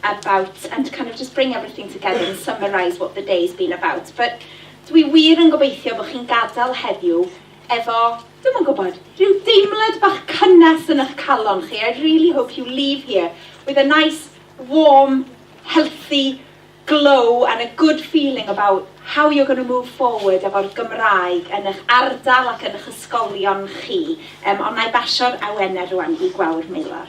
about and kind of just bring everything together and summarise what the day's been about. But dwi wir yn gobeithio bod chi'n gadael heddiw efo, ddim yn gwybod, rhyw deimlad bach cynnes yn eich calon chi. I really hope you leave here with a nice, warm, healthy glow and a good feeling about how you're going to move forward efo'r Gymraeg yn eich ardal ac yn eich ysgolion chi. Um, ond na i basio'r awenau rwan i Gwawr Meilar.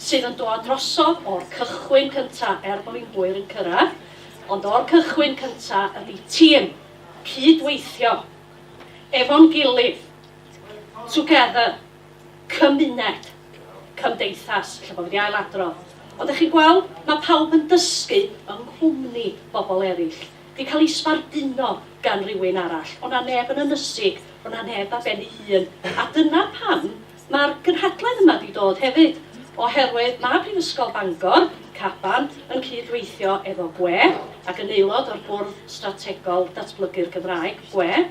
sydd yn dod drosodd o'r cychwyn cynta er bod ni'n hwyr yn cyrraedd, ond o'r cychwyn cynta ydy tîm, cyd-weithio, efo'n gilydd, together, cymuned, cymdeithas, ella bod fi 'di ail-adrodd. Ond dach chi'n gweld, mae pawb yn dysgu yng nghwmni bobl eraill, 'di cael ei sbarduno gan rywun arall, o' 'na neb yn ynysig, o' 'na neb ar ben ei hun, a dyna pam Mae'r gynhadledd yma 'di dod hefyd oherwydd mae Prifysgol Bangor, Caban, yn cyd-weithio efo gwe, ac yn aelod o'r Bwrdd Strategol Datblygu'r Gymraeg, gwe,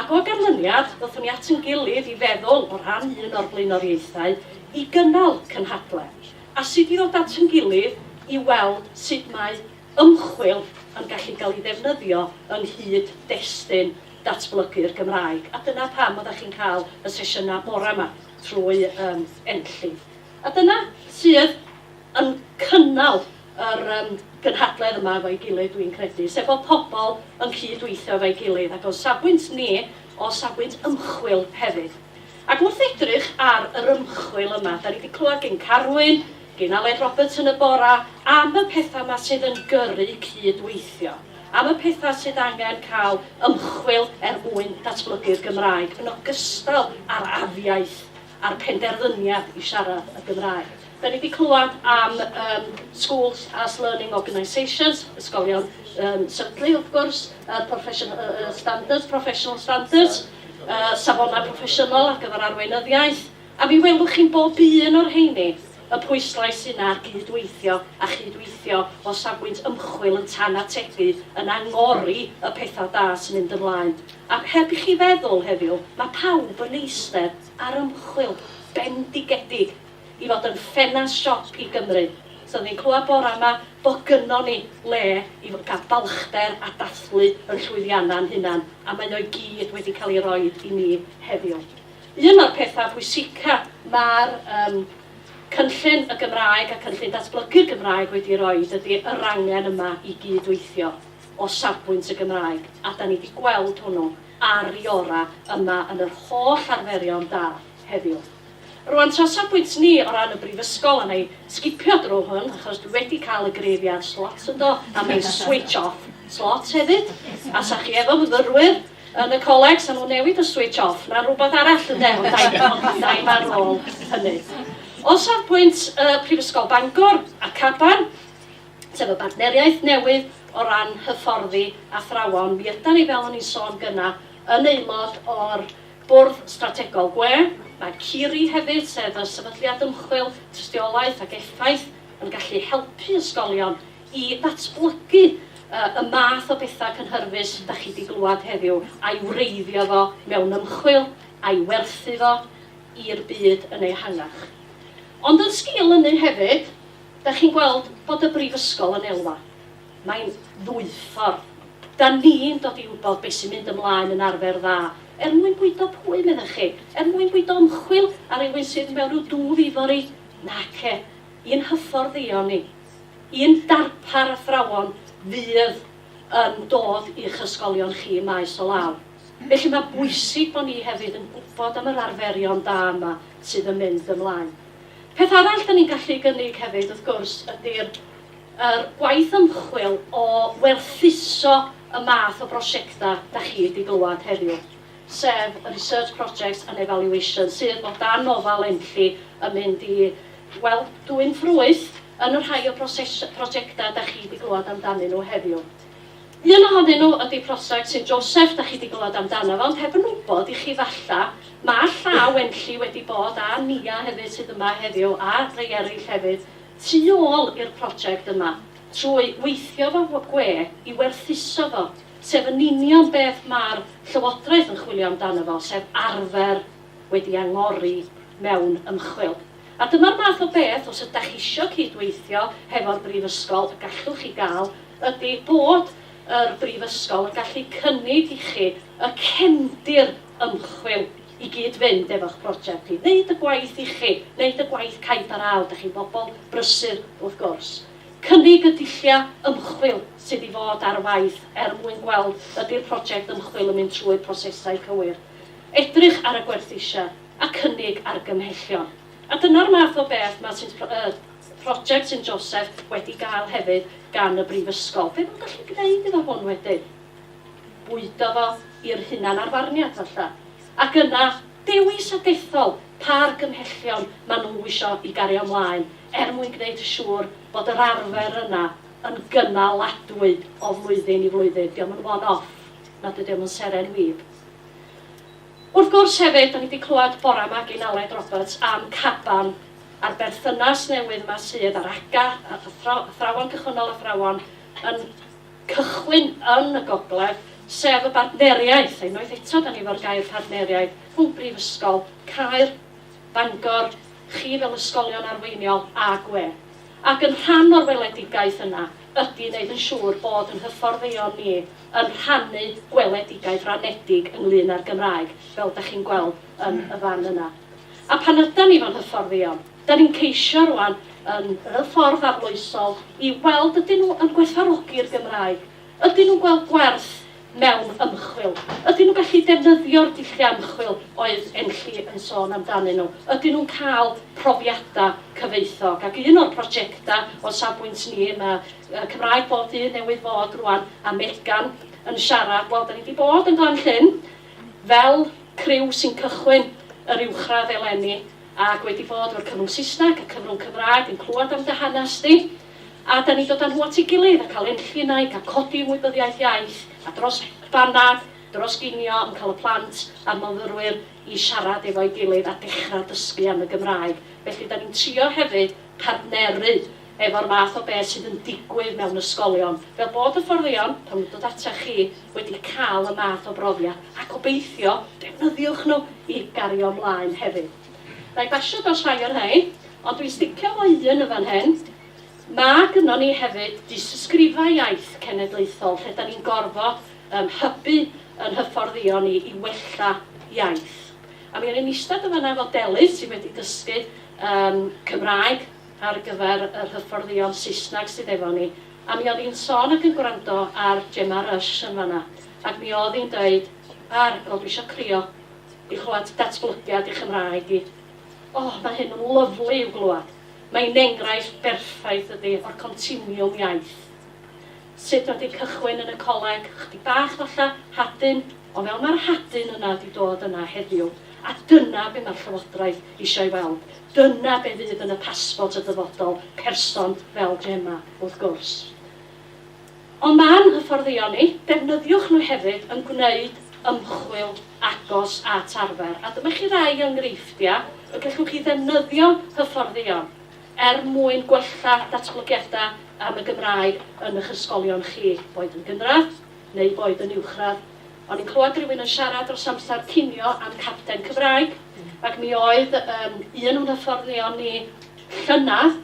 ac o ganlyniad, ddothon ni at yn gilydd i feddwl, o ran un o'r blaenoriaethau, i gynnal cynhadledd, a sut i ddod at yn gilydd i weld sut mae ymchwil yn gallu cael ei ddefnyddio yng nghyd-destun datblygu'r Gymraeg, a dyna pam oeddach chi'n cael y sesiynau bore 'ma trwy yym Enlliw. A dyna sydd yn cynnal yr yym gynhadledd yma efo'i gilydd dwi'n credu, sef bod pobl yn cyd-weithio efo'i gilydd, ac o'n safbwynt ni, o safbwynt ymchwil hefyd. Ac wrth edrych ar yr ymchwil yma, 'dan ni 'di clywed gin Carwyn, Gin Aled Roberts yn y bora am y petha ma sydd yn gyrru cyd weithio, am y petha sydd angen cael ymchwil er mwyn datblygu'r Gymraeg yn ogystal a'r afiaith a'r penderfyniad i siarad y Gymraeg. Da ni di clywed am um, Schools as Learning Organisations, ysgolion um, syrtlu wrth gwrs, uh, profession, uh, uh, standards, professional standards, uh, safonau proffesiynol ar gyfer arweinyddiaeth, A mi welwch chi'n bob un o'r rheini y pwyslais yna ar gyd-weithio, a chyd-weithio o safbwynt ymchwil yn tan atebu, yn angori y pethau da sy'n mynd ymlaen. A heb i chi feddwl heddiw, mae pawb yn eistedd ar ymchwil bendigedig i fod yn ffenast siop i Gymru. So oeddwn i'n clywed bore 'ma bod gynnon ni le i gael balchder a dathlu yn llwyddiannau'n hunan, a maen nhw i gyd wedi cael eu rhoi i ni heddiw. Un o'r pethau pwysica mae'r um, cynllun y Gymraeg a cynllun datblygu'r Gymraeg wedi roi ydy yr angen yma i gyd-weithio o safbwynt y Gymraeg, a da ni wedi gweld hwnnw ar i ora yma yn yr holl arferion da heddiw. Rwan, tra safbwynt ni o ran y brifysgol, a na i sgipio drwy hwn, achos dwi wedi cael y greifiad slot ynddo, a mae'n switch off slot hefyd, a sa chi efo myfyrwyr Yn y coleg, sa nhw'n newid y switch off na rhywbeth arall ynde, ond da i fod yn daim ar ôl hynny. O safbwynt y Prifysgol Bangor a Caban, sef y bartneriaeth newydd o ran hyfforddi athrawon, mi ydan ni, fel o'n i'n sôn gyna, yn aelod o'r Bwrdd Strategol Gwe. Mae CIRI hefyd, sef y Sefydliad Ymchwil, Tystiolaeth ac Effaith, yn gallu helpu ysgolion i ddatblygu y math o bethau cynhyrfus da chi wedi glywed heddiw, a'i wreiddio fo mewn ymchwil, a'i werthu fo i'r byd yn ehangach. Ond yn sgil ynny hefyd, da chi'n gweld bod y Brifysgol yn elwa. Mae'n ddwyffordd. Da ni'n dod i wybod beth sy'n mynd ymlaen yn arfer dda, er mwyn bwydo pwy, meddech chi? Er mwyn bwydo ymchwil ar rywun sydd mewn rhyw dwf ifori? Nace. I'n hyfforddion ni, i'n darpar athrawon fydd yn dod i'ch ysgolion chi ym maes o law. Felly mae'n bwysig bod ni hefyd yn gwybod am yr arferion da yma sydd yn mynd ymlaen. Peth arall 'da ni'n gallu ei gynnig hefyd, wrth gwrs, ydy'r yr gwaith ymchwil o werthuso y math o brosiectau 'da chi 'di glywed heddiw, sef y research projects and evaluation sydd o dan ofal ENLLI yn mynd i Wel, dwyn ffrwyth yn y rhai o broses- prosiectau da chi 'di glywed amdanyn nhw heddiw. Un ohonyn nhw ydi prosiect Saint Joseph da chi 'di glywed amdano fo, ond heb yn wybod i chi falla, ma' llaw Enlli wedi bod, a Nia hefyd sydd yma heddiw, a rhai eraill hefyd, tu ôl i'r prosiect yma, trwy weithio 'fo w- gwe i werthuso fo, sef yn union beth ma'r Llywodraeth yn chwilio amdano fo, sef arfer wedi angori mewn ymchwil. A dyma'r math o beth, os ydach chi isio cyd-weithio hefo'r Brifysgol, y gallwch chi gael, ydy bod yr Brifysgol yn gallu cynnig i chi y cefndir ymchwil i gyd-fynd efo'ch project chi, wneud y gwaith i chi, wneud y gwaith caib ar ail, dach chi'n bobl brysur wrth gwrs. Cynnig y dulliau ymchwil sydd i fod ar waith er mwyn gweld ydy'r project ymchwil yn mynd trwy'r prosesau cywir. Edrych ar y gwerthusia a cynnig argymhellion. A dyna'r math o beth mae Sint Pro-, er, Project Sint Joseph wedi gael hefyd gan y Brifysgol. Be mae'n gallu gwneud iddo hwn wedyn? Bwydo fo i'r hunanarfarniad, falla. Ac yna, dewis a dethol pa argymhellion maen nhw isio i gario ymlaen, er mwyn gwneud yn siŵr bod yr arfer yna yn gynaladwy o flwyddyn i flwyddyn. Dio'm yn one-off, nad ydi o'm yn seren wib. Wrth gwrs hefyd, da ni wedi clywed bore yma gyn Aled Roberts am Caban a'r berthynas newydd yma sydd ar ACCA, Athrawon Cychwynnol Athrawon yn cychwyn yn y gogledd, sef y bartneriaeth, unwaith eto da ni efo'r gair partneriaeth, rhwng Brifysgol Caer, Bangor, chi fel ysgolion arweiniol a gwe. Ac yn rhan o'r weledigaeth yna ydy wneud yn siŵr bod yn hyfforddeion ni yn rhannu gweledigaeth ranedig ynglŷn â'r Gymraeg, fel da chi'n gweld yn y fan yna. A pan ydan ni fo'n hyfforddio, da ni'n ceisio rwan, yn y ffordd arloesol, i weld ydyn nhw yn gwerthfawrogi'r Gymraeg, ydyn nhw'n gweld gwerth mewn ymchwil, ydyn nhw'n gallu defnyddio'r dulliau ymchwil oedd Enlli yn sôn amdanyn nhw, ydyn nhw'n cael profiadau cyfoethog. Ac un o'r projectau o safbwynt ni, mae y Cymraeg bob dydd newydd fod rwan a Megan yn siarad, wel da ni wedi bod yn Glan Llyn fel criw sy'n cychwyn yr uwchradd eleni ac wedi bod o'r cyfrwng Saesneg, y cyfrwng Cymraeg yn clywed am dy hanes di a da ni dod â nhw at ei gilydd a cael enllun a'i cael codi ymwybyddiaeth iaith a dros banad, dros ginio yn cael y plant a'r myfyrwyr i siarad efo'i gilydd a dechrau dysgu am y Gymraeg. Felly da ni'n trio hefyd partneru efo'r math o beth sydd yn digwydd mewn ysgolion, fel bod hyfforddion, pan nw'n dod atach chi, wedi cael y math o brofiad, a gobeithio, defnyddiwch nhw i gario mlaen hefyd. Wna i basio dros rhai o'r rhain, ond dwi'n sticio efo un yn fan hyn. Mae gynnon ni hefyd dystysgrifau iaith cenedlaethol lle da ni'n gorfod um, hybu yn hyfforddion ni i wella iaith. A mi o'n i'n eistedd yn fanna efo Delys sydd wedi dysgu um, Cymraeg ar gyfer yr hyfforddion Saesneg sydd efo ni, a mi oedd hi'n sôn ac yn gwrando ar Gemma Rush yn fan'na, ac mi oedd hi'n deud, Ar, o dwi isio crio i chlywed datblygiad i Chymraeg i. O, mae hyn yn lyfli i'w glywed. Mae hi'n enghraifft berffaith ydi o'r continiwm iaith. Sut ma di cychwyn yn y coleg? Chydig bach falla, hadyn, ond fel ma'r hadyn yna di dod yna heddiw, a dyna be ma'r Llywodraeth isio ei weld, dyna be fydd yn y pasbort y dyfodol, person fel Gemma, wrth gwrs. Ond ma'n hyfforddion ni, defnyddiwch nhw hefyd yn gwneud ymchwil agos at arfer, a dyma chi rai o enghreifftiau y gellwch chi ddefnyddio hyfforddion. Er mwyn gwella datblygiadau am y Gymraeg yn eich ysgolion chi, boed yn gynradd neu boed yn uwchradd, o'n i'n clywed rhywun yn siarad dros amser cinio am capten Cymraeg, ac mi oedd um, un o'n hyfforddion ni llynedd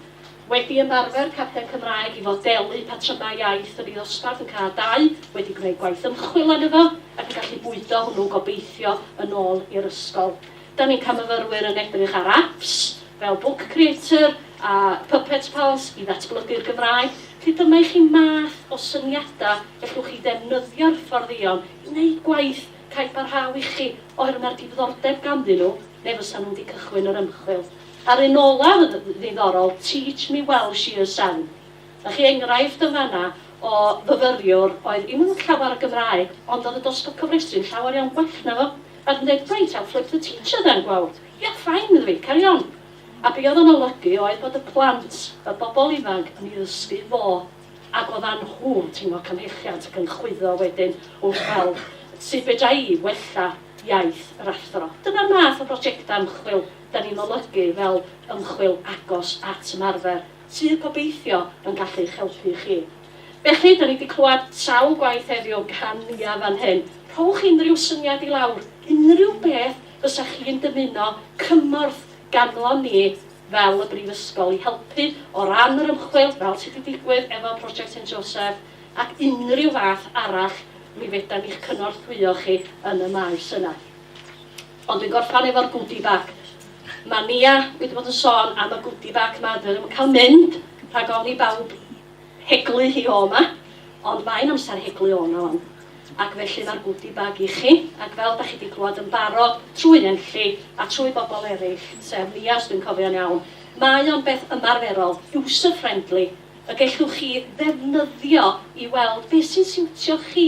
wedi ymarfer capten Cymraeg i fodelu patrymau iaith yn ei ddosbarth yn cael dau, wedi gwneud gwaith ymchwil arno fo ac yn gallu bwydo hwnnw gobeithio yn ôl i'r ysgol. Da ni camfyfyrwyr yn edrych ar apps fel Book Creator a Puppet Pals i ddatblygu'r Gymraeg, felly dyma i chi math o syniadau gallwch chi ddefnyddio'r hyfforddion i wneud gwaith cael parhau i chi oherwydd mae'r diddordeb ganddyn nhw neu fysa nhw wedi cychwyn yr ymchwil. A'r un olaf yn ddiddorol, Teach Me Welsh Year Seven. Da chi enghraifft yn fan'na o fyfyriwr oedd ddim yn llawer o Gymraeg ond oedd y dosbarth cofrestru'n llawer iawn gwell na fo. At ddedfryd a flip the teacher then, wel, ia, fine iddo fi, carry on. A be oedd o'n olygu oedd bod y plant, y bobl ifanc, yn ei ddysgu fo, ac oeddan nhw'n teimlo cymhelliant ac yn chwyddo wedyn wrth weld sut fedra i wella iaith yr athro. Dyna'r math o brojectau ymchwil da ni'n olygu fel ymchwil agos at ymarfer, sydd, gobeithio, yn gallu eich helpu chi. Felly, 'da ni 'di clywed sawl gwaith heddiw gan Nia fan hyn, rhowch unrhyw syniad i lawr, unrhyw beth fysa chi'n dymuno cymorth ganddo ni fel y Brifysgol i helpu o ran yr ymchwil, fel sy' 'di digwydd efo Project Saint Joseph, ac unrhyw fath arall, mi fedan ni'ch cynorthwyo chi yn y maes yna. Ond dwi'n gorffan efo'r goodie bag. Mae Nia wedi bod yn sôn am y goodie bag 'ma, dwi ddim yn cael mynd rhag ofn i bawb Heglu hi o 'ma, ond mae'n amser heglu o 'na 'wan. Ac felly mae'r goodie bag i chi, ac fel dach chi 'di clywed yn barod trwy Enlli a trwy bobl eraill, sef Nia os dwi'n cofio'n iawn, mae o'n beth ymarferol, user friendly, y gellwch chi ddefnyddio i weld beth sy'n siwtio chi,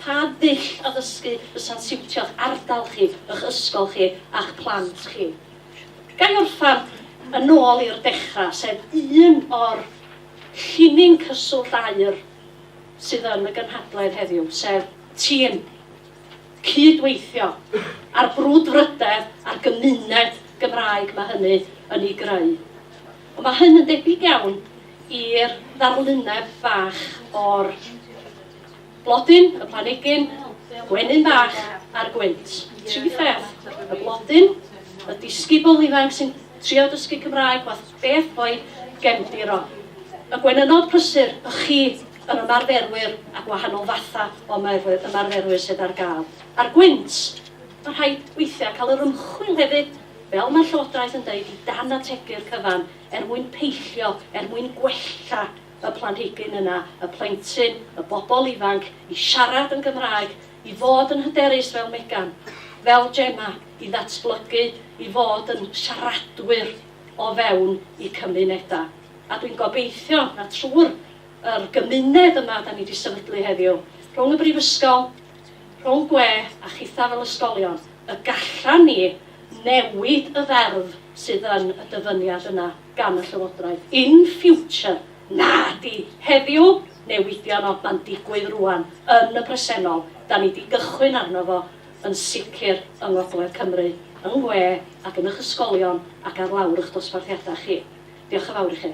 pa ddull addysgu fysa'n siwtio'ch ardal chi, y'ch ysgol chi a'ch plant chi. Ga i orffen yn ôl i'r dechrau, sef un o'r Llinyn cyswllt aer sydd yn y gynhadledd heddiw, sef tîm cyd-weithio a'r brwdfrydedd a'r gymuned Gymraeg mae hynny yn ei greu. Ond mae hyn yn debyg iawn i'r ddarluneb fach o'r Blodyn, y planigyn, gwenyn bach, a'r gwynt. Tri pheth, y blodyn, y disgybl ifanc sy'n trio dysgu Cymraeg fath beth fo'i gefndir o. Y gwenynod prysur, y chi, yr ymarferwyr a gwahanol fathau o ymarferwyr sydd ar gael. A'r gwynt, mae'n rhaid weithiau cael yr ymchwil hefyd, fel mae'r Llywodraeth yn deud, i dan ategu'r cyfan, er mwyn peillio, er mwyn gwella. y planhigyn yna, y plentyn, y bobl ifanc, i siarad yn Gymraeg, i fod yn hyderus fel Megan, fel Gemma, i ddatblygu i fod yn siaradwyr o fewn eu cymunedau. A dwi'n gobeithio na trwy'r yr gymuned yma da ni wedi sefydlu heddiw, rhwng y Brifysgol, rhwng gwe a chitha fel ysgolion, y gallan ni newid y ferf sydd yn y dyfyniad yna. gan y Llywodraeth. In future, nadi heddiw, newidion o, ma'n digwydd rŵan, yn y presennol, 'dan ni 'di gychwyn arno fo, yn sicr yng Ngogledd Cymru, yng Ngwe ac yn 'ych ysgolion ac ar lawr 'ych dosbarthiadau chi. Diolch yn fawr i chi.